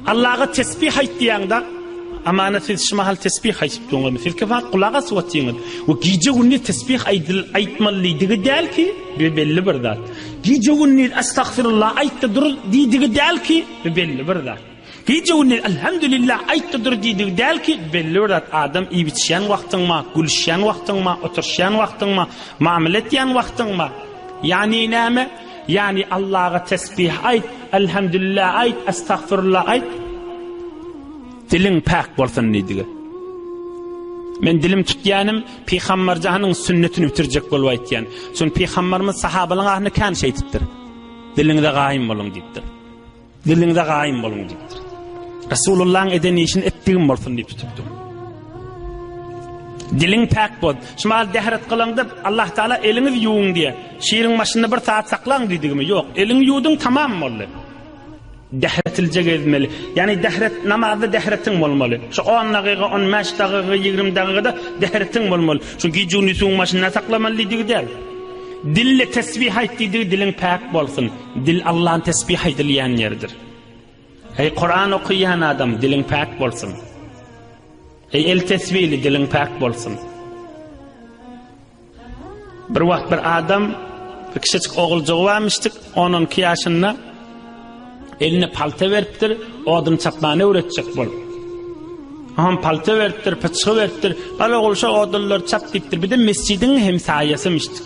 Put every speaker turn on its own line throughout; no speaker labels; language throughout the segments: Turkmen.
Allaha tesbih aýt diýende, amana siz şu mahal tesbih aýdyp durňyz. Siz ki wagt gulak asyp otyňyz. We gije günni tesbih aýdyl aýtmalydigi däl ki, bir belli bir zat. Gije günni astagfirullah aýtdy dur diýdigi däl ki, bir belli bir zat. Gije günni elhamdülillah aýtdy dur diýdigi däl ki, belli bir zat. Adam iýip içýän wagtyňma, gülüşýän wagtyňma, oturşýan wagtyňma, mamle etýän wagtyňma. Ýani näme? Ýagny Allaha tesbih aýt, Elhemdülillä aýt, Estagfirullah aýt. Diliň päk bolsun diýdigi. Men dilim tutýanym Pygamberjanyň sünnetini bitirjek bolup aýtýan. Çünki Pygamberimiz sahabalaryň ahyny kän şeýtipdir. Diliňize gaýym boluň diýipdir. Diliňize gaýym boluň diýipdir. Resulullahyň eden işini etdigim bolsun diýip tutupdyr. Diliň päk bol. Şumal dehret gylyň dip, Allah Taala eliňiz ýuwuň diýe. Şiriň başynda bir saat saklaň diýdigimi? Ýok, eliň ýuwduň tamam boldy. Dehretilje gezmeli. Ýani dehret namazda dehretiň bolmaly. Şu 10 dagyga, 15 dagyga, 20 dagyga-da dehretiň bolmaly. Şu gijuni suwuň başynda saklamaly diýdigi däl. Dille tesbih aýt diýdigi diliň päk bolsun. Dil Allany tesbih aýdylýan ýerdir. Eý Kuran okaýan adam, diliň päk bolsun. Eý el tesbihli, diliň päk bolsun. Bir wagt bir adam bir kiçijik oguljygy barmyşdyk, 10-12 ýaşynda eline palta beripdir, odun çapmany öwretjek bolup. Hom palta beripdir, pyçgy beripdir. Bala ogul şu odunlary çap diýipdir. Bir de mesjidiň hem saýasymyşdyk.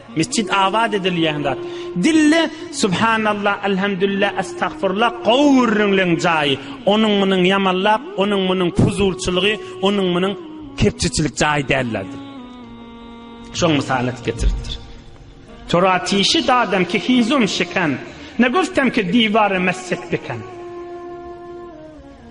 Mesjit abat edilýän zat. Dille subhanallah, elhamdülillah, estagfirullah gowy gürrüňleň jaýy. Onuň munuň ýamanlap, onuň munuň puzulçylygy, onuň munuň kepjeçilik jaýy däldir. Şoň mysal atyp getiripdir. Toratişi dadam ki hizum şiken, ne guftem ki diware mesjid biken.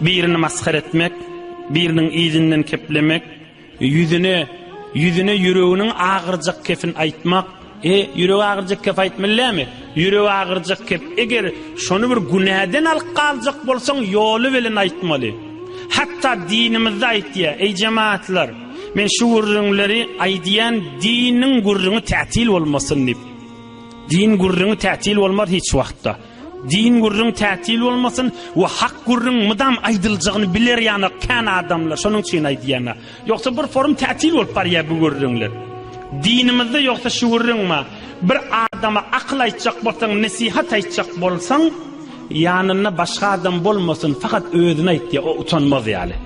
Birini masgara etmek, biriniň yzyndan keplemek, ýüzüne, ýüzüne ýüreginiň agyrjak kepin aýtmak, e, ýüregi agyrjak kep aýtmaly dälmi? Ýüregi agyrjak kep, eger şony bir günäden alyp galjak bolsaň, ýoly bilen aýtmaly. Hatda dinimizde aýtýar, Eý jemaatlar, men şu gürrüňleri aýdýan, diniň gürrüňi tätil bolmasyn diýip. Din gürrüňi tätil bolmaz hiç wagtda. Din gürrüň tätil bolmasyn we hak gürrüň mydam aýdyljagyny biler ýana kän adamlar şonuň üçin aýdýana. Ýogsa bir forum tätil bolup barýar bu gürrüňler. Dinimizde ýogsa şu gürrüň ma bir adama akyl aýtjak bolsaň nesihat aýtjak bolsaň ýanynda başga adam bolmasyn fakat özüne aýt diýär o utanmaz ýaly.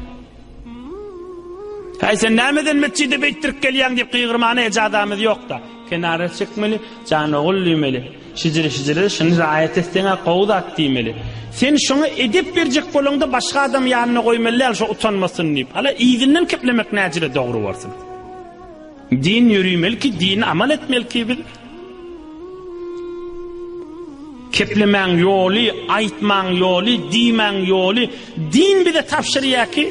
Häý sen nämeden metjide beýtdirip gelýäň diýip gygyrmana ejazamyz ýokda. Kenara çekmeli, Jan ogul diýmeli. Şijiri-şijiri, Şuny raýat etseň-ä gowy zat diýmeli. Sen şoňa edep berjek bolaňda başga adamy ýanyna goýmaly däl, şo utanmasyn diýip. Hala yzyndan keplemek näjire dogry bolsun. Din ýörimelki, dini amal etmeliki biz. Keplemäň ýoly, aýtmaň ýoly, diýmäň ýoly, din bize tabşyrýar ki,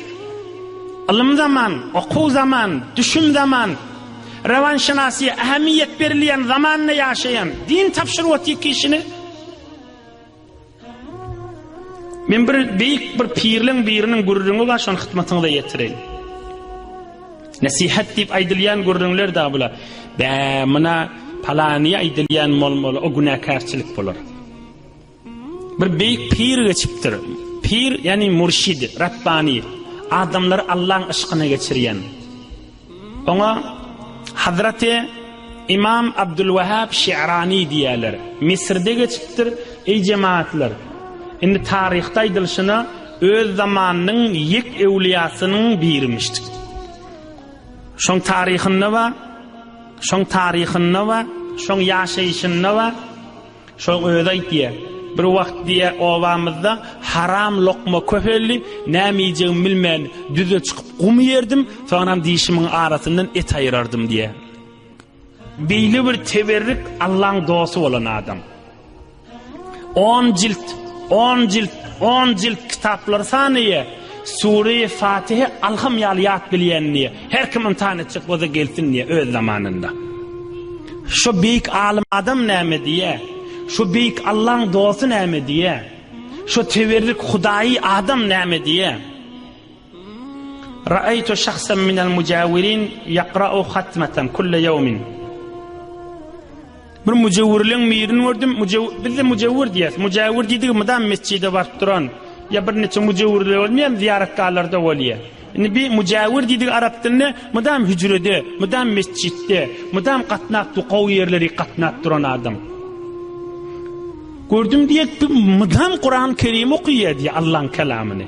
ylym zaman, okuw zaman, düşüm zaman, Rowanşynasy ähmiýet berilýän zamanda ýaşaýan din tabşyrwaty kişini Men bir beýik bir pirleň biriniň gürrüňi bar şony hyzmatyňyza ýetireýin. Nesihat diýip aýdylýan gürrüňler da bula. Bä, muna palany aýdylýan bolmaly, o günäkärçilik bolar. Bir beýik pir geçipdir. Pir, ýagny murşid, rabbani, adamlary Allahyň yşkyna geçirýän. Oňa Hazraty Imam Abdulwahhab Şe'rani diýýärler. Misirde geçipdir. Eý jemaatlar, indi taryhda aýdylyşyna öz zamanynyň ýek öwliýasynyň birimişdi. Şoň taryhynda we şoň taryhynda we şoň ýaşaýşynda we Şoň özi aýtýa. Bir wagt diýä obamyzda haram lokma köpeldi, näme iýjegimi bilmän düze çykyp gum iýerdim, soňam dişimiň arasyndan et aýyrardym diýä. Beýle bir teberrik Allaň dosty bolan adam. On jilt, on jilt, on jilt kitaplary sanaýa, Sureýi Fatihe alham ýaly ýat bilýän diýe, her kim ymtahan etjek bolsa gelsin diýe öz zamanynda. Şu beýik alym adam näme diýe? Şu beýik Allaň dosty näme diýe? Şu tewerrik hudaýy adam näme diýe? Ra'aytu şahsan minel mujawirin yaqra'u hatmatan kulle yawmin. Bir müjewwirleň mirini gördüm. Müjew bizde müjewwir diýýäs. Müjewwir diýdigi mydam mesjide baryp duran. Ýa bir neçe müjewwirler bolmaýar, zyýaratgahlarda bolýar. Indi bir müjewwir diýdigi arap dilinde mydam hüjrede, mydam mesjitde, mydam gatnap dukaw ýerleri gatnap duran adam. Gördüm diýek, mydam Kuran-Kerim okaýar diýär Allah'yň kelamyny.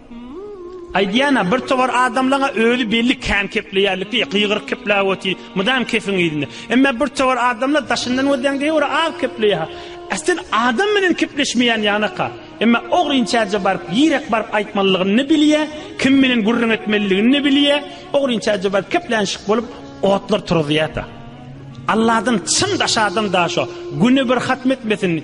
Aýdýan-a, bir towar adamlaň-a özi belli kän kepleýärlikli, gygyryk kepläp otyr, mydam kepiň yzynda. Emma bir towar adamlar daşyndan gözlän geýewr az kepleýär-hä. Äsel adam bilen kepleşmeýän ýanak-a. Emma ogrynçäje baryp, ýerek baryp aýtmalylygyny-da bilýär, kim bilen gürrüň etmeliligini-de bilýär, ogrynçäje baryp keplänişik bolup otlar turuzýar-da. Alladan çyn daş adam daşa, güne bir hatm etmesin,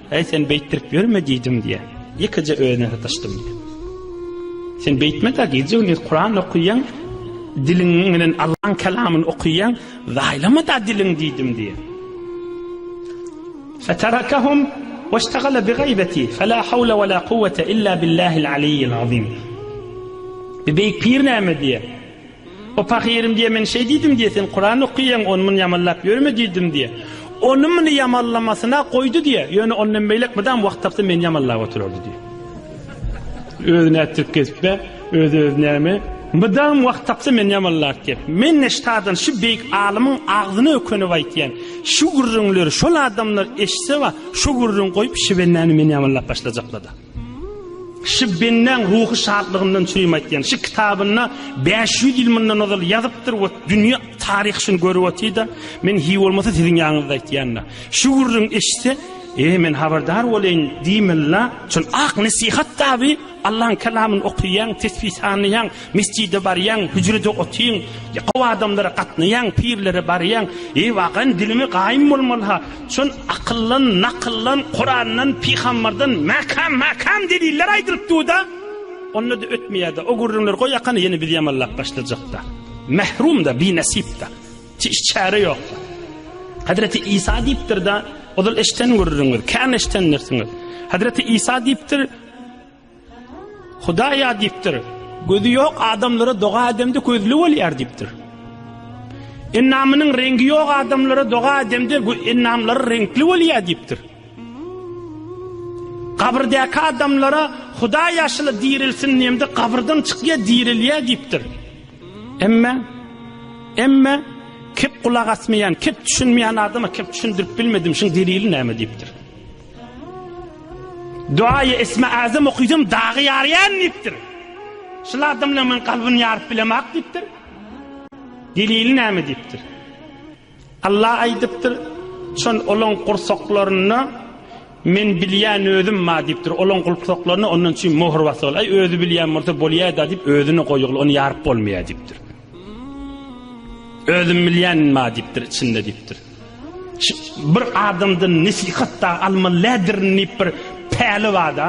Äý sen beýtdirip ýörme diýdim diýýär. Ýekeje özüne sataşdym diýýär. Sen beýtme-de gije gündiz Kuran okaýaň, diliň bilen Allaň kelamyny okaýaň, zaýlama-da diliň diýdim diýýär. Fetarakahum weştagala bi gaýbeti fela hawla wela kuwwete illa billahil aliyyil azim. Bi beýik pir näme diýýär? O pahyryň diýe men şeý diýdim diýe sen Kuran okyýaň ony muny ýamanlap ýörme diýdim diýe. Ony muny ýamanlamasyna goýdy diýe ýöne ondan beýlek mydam wagt tapsa meni ýamanlap oturardy diýe. Özi nätdirip gezipbe özi özi näme mydam wagt tapsa meni ýamanlap diýe. Men neştadan şu beýik alymyň agzyna ökünip aýtýan şu gürrüňleri şol adamlar eşitse ba şu gürrüň goýup şibennäni meni ýamanlap başlajaklada. Şi Benneň ruhy şatlygyndan çürim aýtýan. Şi kitabynda bäş ýüz ýyl mundan ozal ýazypdyr we dünýä taryhy şuny görüp otyr-da, men hiý bolmasa siziň ýanyňyzda aýtýan-da. Şu gürrüň eşitse, e, men habardar bolaýyn diýmeli-la. Şol ak nesihat kitaby, Allaň Kalamyny okaýaň, tesbih sanlaýaň. Mesjide barýaň, hüjrede otyň, ýakaw adamlara gatnaýaň, pirlere barýaň. Eý, wakan dilimi gaýym bolmaly ha. Şon akyldan, nakyldan, Kurandan, pygambardan mäkäm, mäkäm deliller aýdylyp dur-da. Onda-da ötmeýär-de. O gürrüňleri goýakana, ýene biz ýamallap başlajak-da. Mährum-da, binesip-de. Çiş çäre ýok-da. Hazreti Isa diýipdir-de, ozal eşden gürrüňiz, kän eşdendirsiňiz. Hazreti Isa diýipdir, Hudaýa diýipdir. Gözi ýok adamlara doga edemde gözli bolýar diýipdir. Ennamynyň reňgi ýok adamlara doga edemde ennamlary reňkli bolýar diýipdir. Gabyrdäki adamlara Hudaý ýaşyly dirilsin diýemde gabyrdan çykýar dirilýär diýipdir. Emme emme kep gulak asmaýan, kep düşünmeýän adama kep düşündirip bilmedim, şuň delili näme diýipdir. Duaýy Esma Azam okydym dagy ýarýan diýipdir. Şul adamla men kalbyny ýaryp bilemak diýipdir. Delili näme diýipdir. Allah aýdypdyr, çon olaň gursaklarynda men bilýän özüm ma diýipdir. Olaň gursaklarynda ondan üçin möhür basy bol. Aý özi bilýän bolsa bolýar-da diýip özüni goýugly ony ýaryp bolmaýar diýipdir. Özüm bilýän ma diýipdir içinde diýipdir. Bir adamdan nesihat da almalydyr diýip bir päli bada.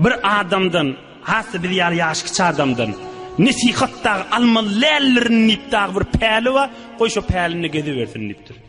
Bir adamdan, hasy biz ýaly ýaş kiçi adamdan nesihat da almalydyr diýip da bir päli bar. Goý şu pälini gezibersin diýipdir.